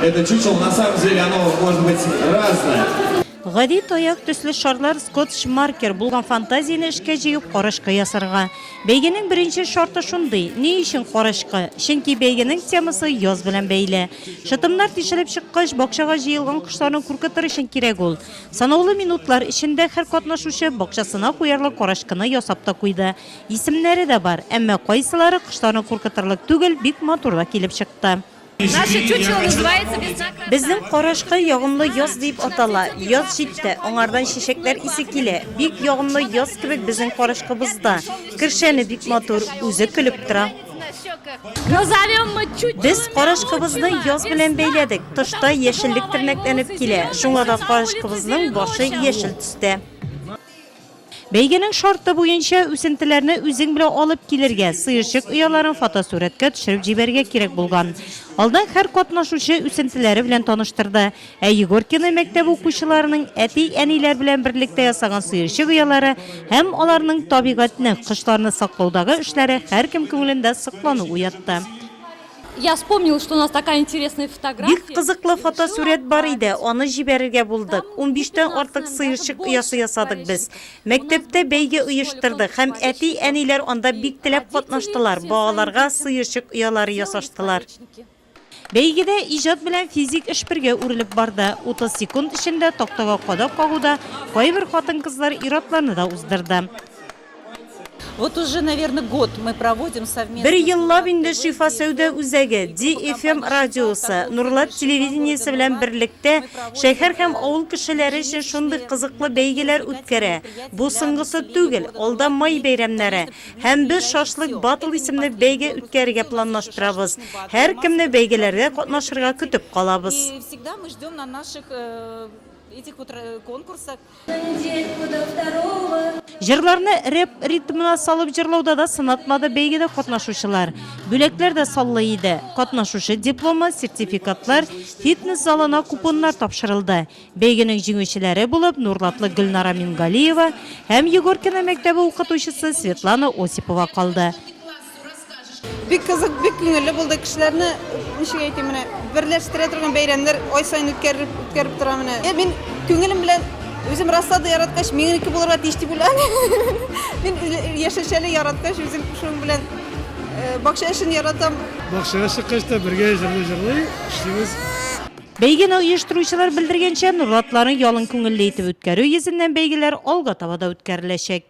Это чучело на самом деле оно может быть разное. Гади таяк төсле шарлар скотч маркер булган фантазияне эшкә җыеп карашка ясарга. Бәйгенең беренче шарты шундый, ни өчен карашка? Чөнки бәйгенең темасы яз белән бәйле. Шытымнар тишелеп чыккач, бакчага җыелган кошларны куркытыр өчен кирәк ул. Санаулы минутлар эчендә һәр катнашучы бакчасына куярлык карашкыны ясап та куйды. Исемнәре дә бар, әмма кайсылары кошларны куркытырлык түгел, бик матур да килеп чыкты. Наше чучело называется весна красавица. Безнең карачкы ягымлы яз дип атала. Яз җитте, аңардан чәчәкләр исе килә. Бик ягымлы яз кебек безнең карачкыбызда. Кершәне бик матур, үзе көлеп тора. Назовем мы чучело. Без карачкыбызны яз белән бәйләдек. Тышта яшеллек тернәкләнеп килә, шуңа да карачкыбызның башы яшел төстә. Бәйгенең шарты буенча, үсентеләрне үзең белән алып килергә, сыерчык ояларын фотосурәткә төшереп җибәрергә кирәк булган. Алдан һәр катнашучы үсентеләре белән таныштырды. Ә Егоркино мәктәбе укучыларының әти-әниләр белән берлектә ясаган сыерчык оялары һәм аларның табигатьне, кошларны саклаудагы эшләре һәркем күңелендә соклану уятты. Я вспомнил, что у нас такая интересная фотография. Бик кызыклы фотосурәт бар иде, аны җибәрергә булдык. 15 тән артык сыерчык оясы ясадык без. Мәктәптә бәйге оештырдык һәм әти-әниләр анда бик теләп катнаштылар, балаларга сыерчык оялары ясаштылар. Бәйгедә иҗат белән физик эш бергә үрелеп барды. 30 секунд эчендә тактага кадак кагуда кайбер хатын-кызлар ир-атларны да уздырды. Вот уже, наверно, год мы проводим совместно... Бер еллап инде Шифа сәүдә үзәге, DFM радиосы, Нурлат телевидениесе белән берлектә шәһәр һәм авыл кешеләре өчен шундый кызыклы бәйгеләр үткәрә. Бу соңгысы түгел, алда май бәйрәмнәре. Һәм без Шашлык Battle исемле бәйге үткәрергә планлаштырабыз. Һәркемне бәйгеләрдә катнашырга көтеп калабыз. Җырларны рэп ритмына салып җырлауда да сынатмады бәйгедә катнашучылар. Бүләкләр дә саллы иде. Катнашучы дипломы, сертификатлар, фитнес залына купоннар тапшырылды. Бәйгенең җиңүчеләре булып Нурлатлы Гөлнара Мингалиева һәм Егоркино мәктәбе укытучысы Светлана Осипова калды. Бик кызык, бик күңелле булды. Кешеләрне, ничек әйтим, менә берләштерә торган бәйрәмнәр ай саен үткәрелеп үткәреп тора менә. Е, Мин күңелем белән үзем раслады яраткач, минеке булырга тиеш дип уйлам. Мин ил- яшелчәле яраткач, үзем шуның белән э, бакча эшен яратам. Бакчага чыккач та бергә җырлый җырлый эшлибез. Бәйгене оештыручылар белдергәнчә, Нурлатларны ялын күңелле итеп үткәрү йөзеннән бәйгеләр алга таба да үткәреләчәк.